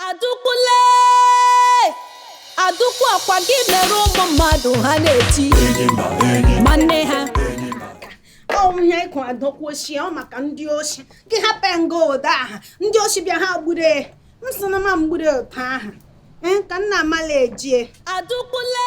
Adaukwu le Adaukwu ọ kwa gị mere ụmụ mmadụ ha na-eti ma nne ha ọ wụ ihe ịkụ Adaukwu oshi ọ maka ndị oshi gị hapụ nga ụda aha ndị oshi bịa ha gbure m sị na ma mgbure ụta aha ee ka nna amala ejie Adaukwu le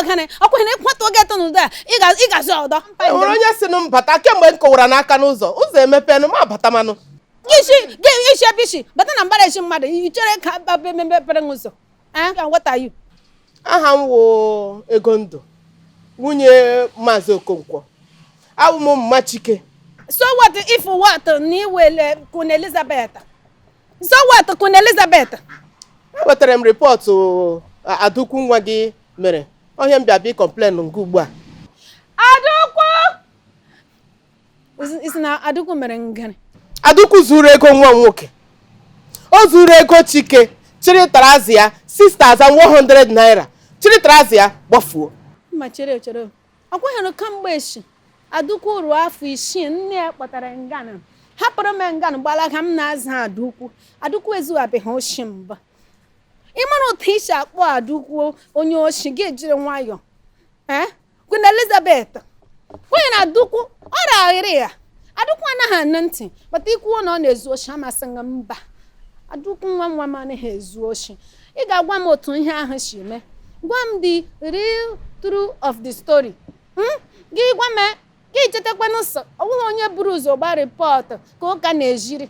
ọgịnị ọkwa na ịkwatụ oge eto n'ụdọ a ị gazi ọdọ enwere onye sị m bata kemgbe m kụwara aka n'ụzọ ụzọ emepenụ m abata manụ isi gị i si ebe i si bata na mbara ezi mmadụ i chere ka mepere ụzọ Eh? Ka what are you? aha m wụ Egondụ nwunye Maazị Okonkwo abụ m mma Chike So what if what na iwele Queen Elizabeth? So what Queen Elizabeth? ewetara m report a- Adaukwu nwa gị mere ọ ihe m bịa bịa complain nke ugbu a Adaukwu! ị sị na Adaukwu mere ngịrị Adaukwu zuru ego nwa nwoke o zuru ego Chike chịrị trouser ya 6100 naira chịrị trouser ya gbafuo mma chere chere ọkweghịrụ kamgbe echi Adaukwu ruo afọ isii nne ya kpọtara nganụ hapụrụ m nganụ gbalaga m na-aza Adaukwu Adaukwu ezuwabeghị oshi mbụ ị mara otu ị si akpọ Adaukwu onye oshi gị ejiri nwayọọ ee eh? Queen Elizabeth onye na Adaukwu ọ raghịrị ya Adaukwu anaghị anụ ntị but ikwu na ọ na-ezu oshi a m asị gị mba Adaukwu nwa nwa m anaghị ezu oshi ị ga-agwa m otu ihe ahụ si mee gwa m the real truth of the story hmm? gị gwa m gị chetakwanụ sị ọ wụghị onye buru ụzọ gba report ka ụka na-eziri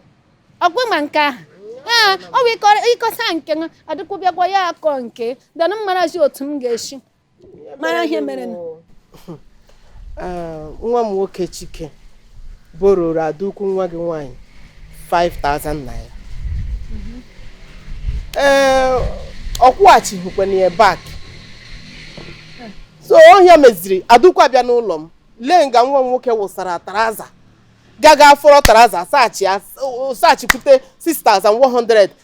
ọ kwa ma nke ahụ ee ọ bụ ị kọsa nke Adaukwu bịakwa ya akọ nke danụ m marazi otu m ga-esi mara ihe mere ah, nwa m nwoke Chike bororo Adaukwu nwa gị nwaanyị 5000 naira mhm. ee eh, ọ kwụghachighịkwana ya back so ọ ihe a meziri Adaukwu abịa n'ụlọ m lee nga nwa m nwoke wụsara trouser gaga afọrọ trouser saachị saachịpụte 6100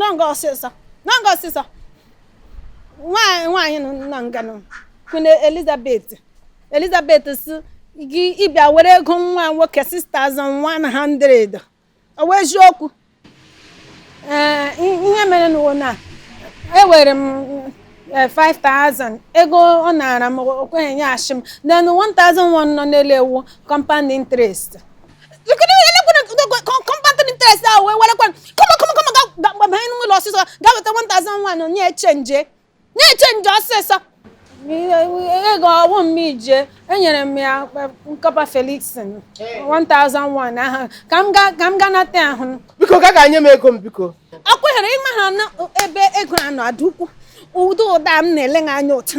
nanga ọsịsa nanga ọsịsa nwaanyị nwaanyị nọ na nganụ Queen Elizabeth Elizabeth sị gị ị bịa were ego nwa nwoke 6100 ọ wụ eziokwu ee ihe merenụ wụ na ewere m eh, 5000 ego ọ nara m o kweghị nyeghachi m then 1001 nọ n'elu ya wụ compound interest compound interest ahụ wee werekwa kọma kọma kọma ga gbabanye n'ụlọ ọsịsọ gaa weta 1001 nye chenje nye chenje ọsịsọ ego ọ wụ m ije enyere m ya Corper Felix 1001 ahụ ka m ga ka m ga nata ahụ biko ka ga-enye m ego m biko akwụnyere ịma ha na ebe ego a nọ Adaukwu ụdị ụda m na-ele anya ụtụ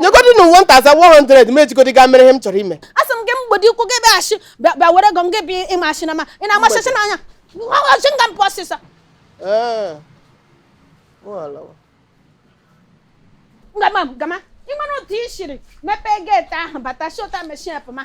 nyegodi na 1100 m ejigodi gaa mere ihe m chọrọ ime asị m gị mgbede ikwu gị bịaghachi bịa bịa were ego m gị bịa ị ma asị na ma ị na-amachacha n'anya shi nga m pụọ ọsịsọ Ee. Ọ alawa. gama gama ị mara otu i siri mepee geeti ahụ bata shi otu a meshie pụma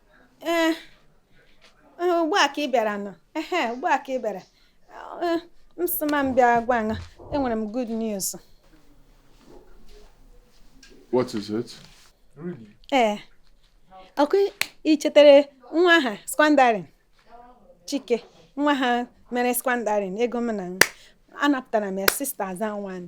ee ugbu a ka ị bịara nọ ehe ugbu a ka ị bịara m sị ma m bịa gwa gị na enwere m good news What is it? ee ọkwa i chetara nwa ahụ squandering Chike nwa ahụ mere squandering ego m na anapụtara m ya 6001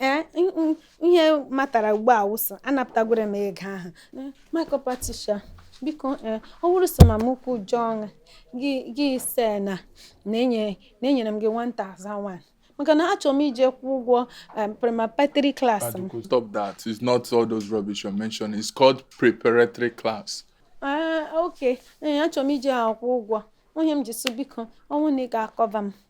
ee ihe matara ugbu a wụ sị anapụtagoro m ego ahụ my Corper Tricia biko ee ọ bụrụ so mama ukwu John gị gị sị na na enyere m gị 1001 maka na achọrọ m ije kwụ ụgwọ um, preparatory class m Adaukwu, stop that. It's not all those rubbish you're mentioning. It's called preparatory class. Ah, ok ee achọrọ m ije akwụ ụgwọ onye m ji sụ biko ọ wụ na ị ga-acover m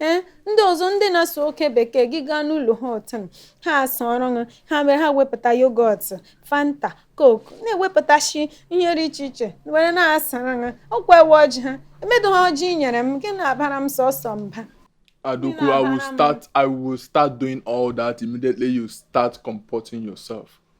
ee ndị ọzọ ndị na-asụ oke bekee gị gaa n'ụlọ ha otu ha asọrọ ha ha mere ha wepụta yogurt fanta coke na-ewepụtasị ihe dị iche iche were na-asara ha ọkwa ewe ọjị ha emedo ha ọjị nyere m gị na-abara m sọsọ mba Adaukwu, I will start. I will start doing all that immediately you start comporting yourself.